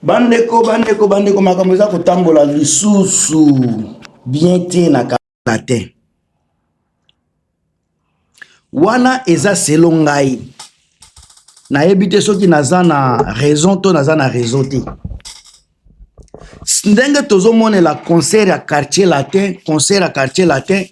bandeko bandeko bandeko makambo eza kotambola lisusu bien te na kala te wana eza selo ngai nayebi te soki naza na raison to naza na raison te ndenge tozomonela concert ya quartier latin concert ya quartier latin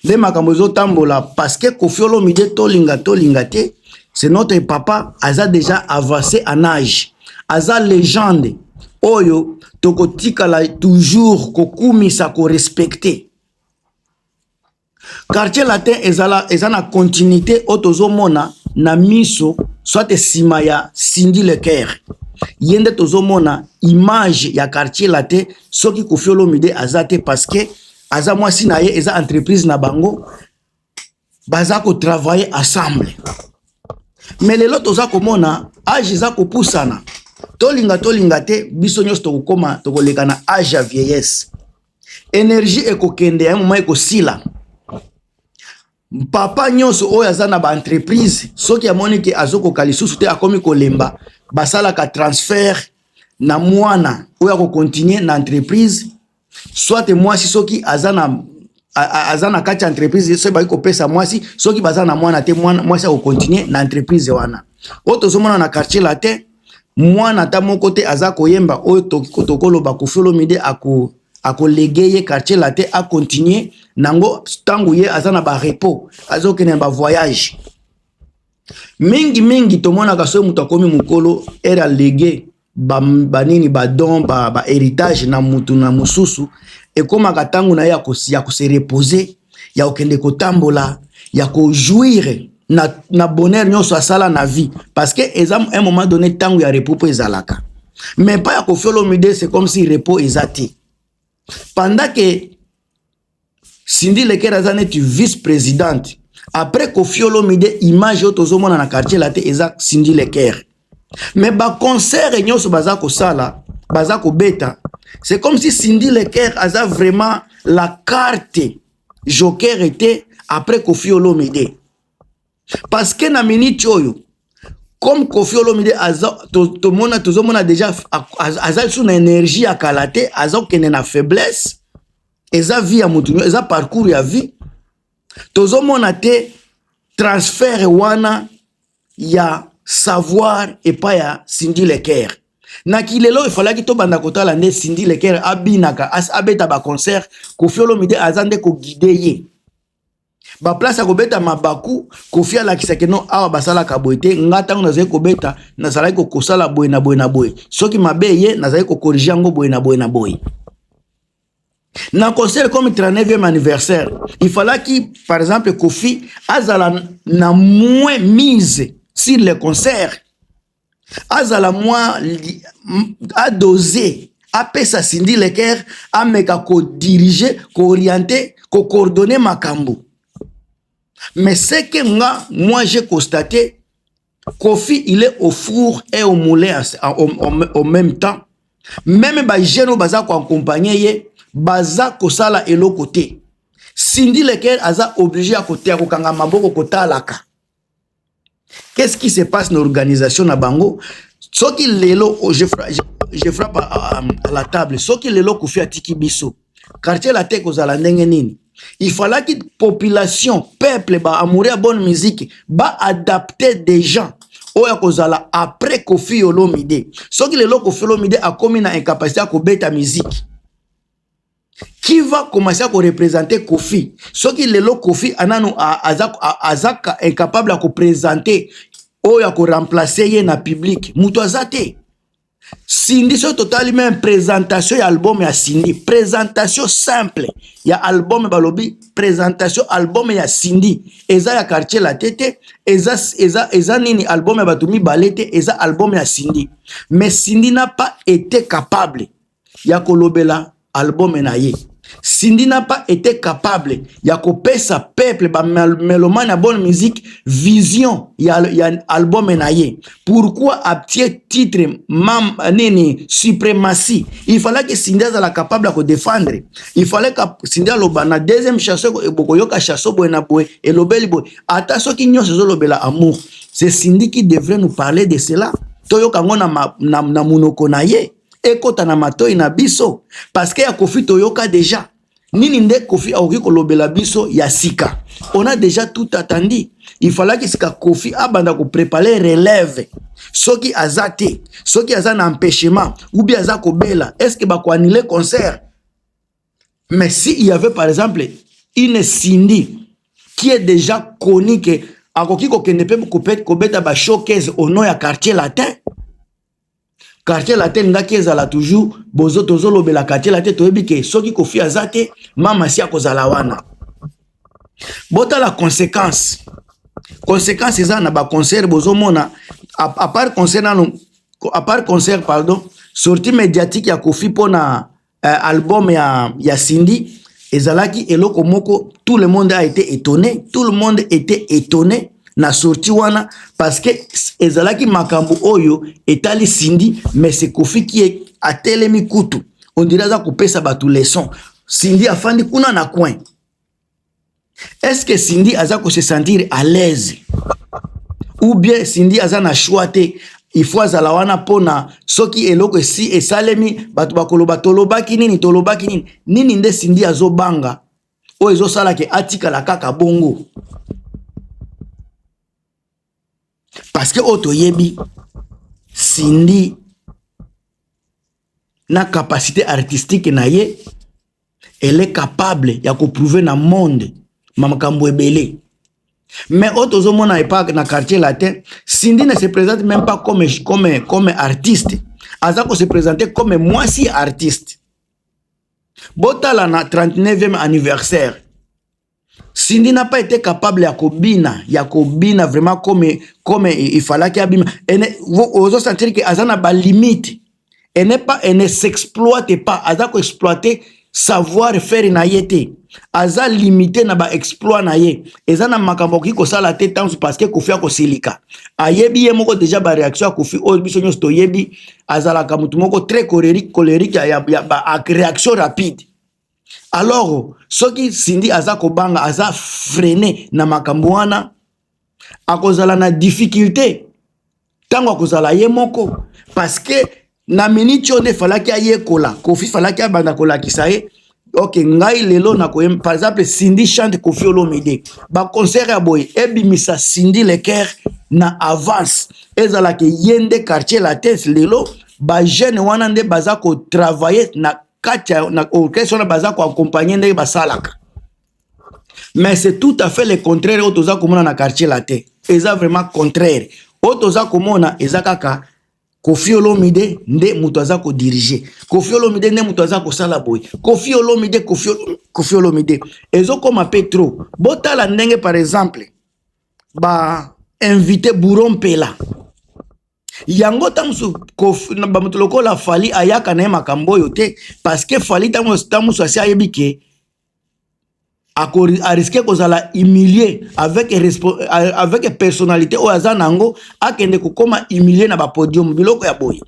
nde makambo ezotambola parceke kofi olomide tolinga tolinga te c'est notre papa aza déjà avancé en age aza legende oyo tokotikala toujours kokumisa korespecte quartier latin ezala eza na continuité oyo tozomona na miso soit nsima ya sindi lecaire ye nde tozomona image ya quartier latin soki kofi olomide aza te parce que aza mwasi na ye eza entreprise na bango baza kotravaille ensemble me lelo toza komona age eza kopusana tolinga tolinga te biso nyonso tokokoma tokoleka na age ya vieillesse energie ekokende ya moma ekosila papa nyonso oyo aza na baentreprise soki amoni ke azokoka lisusu te akomi kolemba basalaka transfert na mwana oyo akokontinue na entreprise soit mwasi soki aza na aza na kati ya entreprise soki baki kopesa mwasi soki baza na mwana te mwasi akokontinue na entreprise wana oyo tozomona na quartier latin mwana ata moko te aza koyemba oyo tokoloba kofolomide ako akolege ye quartier latin akontinue nango ntango ye aza na barepos azokende na bavoyage mingi mingi tomonaka soki moto akomi mokolo ere alege banini ba badon bahéritage ba na motu na mosusu ekomaka ntango na ye ya kose repose ya kokende kotambola ya kojouire na, na bonheur nyonso asala na vie parce que eza un moment donné ntango ya repos mpo ezalaka mais mpa ya kofiolomide c'est comme si repos eza te pendant que Cindy Lekera aza neti vice presidente après Koffi Olomide image oyo tozomona na quartier la te eza Cindy Lekera mais ba concert nyonso baza kosala baza kobeta c'est comme si Cindy Lekera aza vraiment la carte joker était après Koffi Olomide parce que na minute oyo comme kofi olomide tomona tozomona deja aza lisusu na énergie ya kala te aza kokende na faiblesse eza vie ya motu eza parcours ya vie tozomona te transfert wana ya savoir epai ya sindi lecaire na kilelo efalaki tobanda kotala nde sindi lecaire abinaka abeta baconcert kofi olomide aza nde koguide ye ba place ya kobeta mabaku kofi alakisaki no awa basalaka boye te nga ntango nazali kobeta nazalaki kokosala boye na boye na boye soki mabe ye nazali kokorige yango boye na boye na boye na concert comme 39e anniversaire il falaki par exemple kofi azala na moins mise sur le concert azala mwa adose apesa Cindy Leker ameka kodirige kooriente kocoordonne makambo mais seke nga moi je constate Kofi il est au four et au moulin au, au, au même temps meme bajeune oyo baza koaccompagne ye baza kosala eloko te Cindy Leker aza oblige ya kokanga maboko kotalaka Qu'est-ce qui se passe na organisation na bango? Soki lelo oh, je, je, je frappe à, à la table, soki lelo Koffi atiki biso, quartier latin ekozala ndenge nini? Il fallaki population, peuple ba amoureux ya bonne musique ba adapter des gens oyo akozala après Koffi Olomide. Soki lelo Koffi Olomide akomi na incapacité ya kobeta musique qui va commencer à représenter Kofi soki lelo Kofi anano azaka incapable à représenter ou à remplacer ye na public mutu azate Cindy soki totali même présentation ya album ya Cindy présentation simple ya album balobi présentation album ya Cindy eza ya quartier la tete eza eza eza nini album ya bato mibale te eza album ya Cindy mais Cindy n'a pas été capable ya kolobela album na ye Cindy Napa était capable ya kopesa peuple ba melomane ya bonne musique vision ya, ya album na ye pourquoi atie titre mam, nini suprematie il fallait que Cindy azala capable ya kodefendre il fallait que Cindy aloba na deuxième chanson bokoyoka chanson boye na boye elobeli boye ata soki nyonso ezolobela amour c'est Cindy qui devrait nous parler de cela toyoka yango na, na, na monoko na ye ekota na matoi na biso paske ya kofi toyoka deja nini nde kofi akoki kolobela biso ya sika on a deja tout atandi ifalaki sika kofi abanda koprepare relève soki aza te soki aza na empêchement ubi aza kobela estce bakoanile concert mais si il y avait par exemple une sindi qui est deja coni ke akoki kokende mpe kobeta bashowcase ono ya quartier latin quartier latin ngaki ezala toujours bozo tozolobela quartier latin toyebi ke soki kofi aza te mama si akozala wana botala conséquence conséquence eza na baconcert bozomona apart concert nano apart concert pardon sortie médiatique ya kofi mpona uh, album ya, ya Cindy ezalaki eloko moko tout le monde a été étonné tout le monde était étonné na sorti wana parce que ezalaki makambo oyo etali Cindy mais c'est Kofi qui est atelemi kutu on dirait aza kopesa bato leçon Cindy afandi kuna na coin est ce que Cindy aza ko se sentir à l'aise ou bien Cindy aza na choix te il faut azala wana pona soki eloko esi esalemi bato bakoloba tolobaki nini tolobaki nini nini nde Cindy azobanga oyo ezosala ke atikala kaka bongo parce que oyo toyebi Cindy na capacité artistique na ye elle est capable ya ko prouver na monde ma makambo ebele mais oyo tozomona epa na quartier latin Cindy ne se présente même pas comme, comme, comme artiste aza ko se présenter comme mwasi artiste botala na 39e anniversaire Cindy n'a pas été capable ya kobina ya kobina vraiment comme comme il fallait qu'il abima et ozo sentir que azana ba limite elle n'est pas elle ne s'exploite pas aza ko exploiter savoir faire na ye te aza limite na ba exploit na ye eza na makambo okoki kosala te ntango parce que kofi akosilika ayebi ye moko deja baréaction ya kofi oyo biso nyonso toyebi azalaka motu moko très colérique colérique ya, ya, ya ba réaction rapide alors soki Cindy aza kobanga aza freine na makambo wana akozala na difficulté ntango akozala ye moko parce que na miniti oyo nde falaki ayekola kofi falaki abanda kolakisa ye ok ngai lelo nakoye par exemple cindy chante kofi olomide baconcert ya boye ebimisa cindy lecaire na avance ezalaka ye nde quartier latin lelo bajeune wana nde baza kotravaille na kati ya na orchestre wana baza koaccompagne ndenge basalaka mais c'est tout à fait le contraire oyo toza komona na quartier la te eza vraiment contraire oyo toza komona eza kaka kofi olomide nde moto aza kodirige kofi olomide nde moto aza kosala boye kofi olomide kofi olomide ezokoma mpe trop botala ndenge par exemple ba invité bouro mpela yango ntango mosusu bamoto lokola fali ayaka na ye makambo oyo te parce que fali ntango mosusu asi ayebi ke ariske kozala humilie avec, avec personnalité oyo aza na yango akende kokoma humilie na bapodium biloko ya boye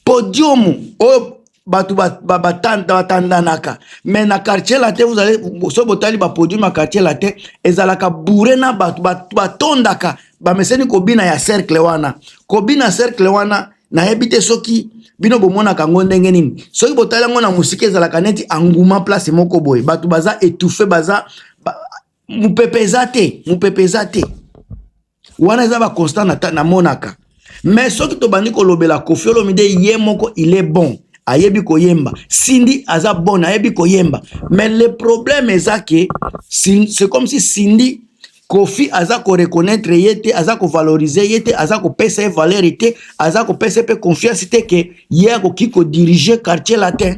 podium oyo bato batandanaka mais na quartier latin vous allez soki botali bapodium ya quartier latin ezalaka boure na bato batondaka bameseni kobina ya cercle wana kobina cercle wana nayebi te soki bino bomonaka yango ndenge nini soki botali yango na mosika ezalaka neti anguma place moko boye bato baza etouffe baza ba, mopepe eza te mopepe eza te wana eza ba constant na namonaka mais soki tobandi kolobela Koffi Olomide ye moko il est bon ayebi koyemba Cindy aza bon ayebi koyemba mais le problème eza que c'est comme si Cindy Kofi aza ko reconnaître ye te aza ko valoriser ye te aza ko pesa ye valeur te aza ko pesa pe confiance te que ye akoki ko diriger quartier latin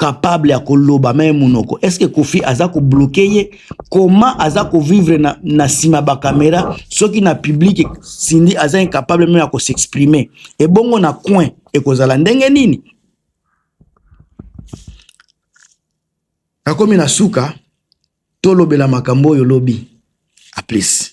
capable ya koloba meme munoko est ce que kofi aza ko bloquer ye comment aza ko vivre na na sima ba camera soki na public Cindy aza incapable meme ya ko s'exprimer et bongo na coin ekozala ndenge nini akomi na suka tolobela makambo oyo lobi a plus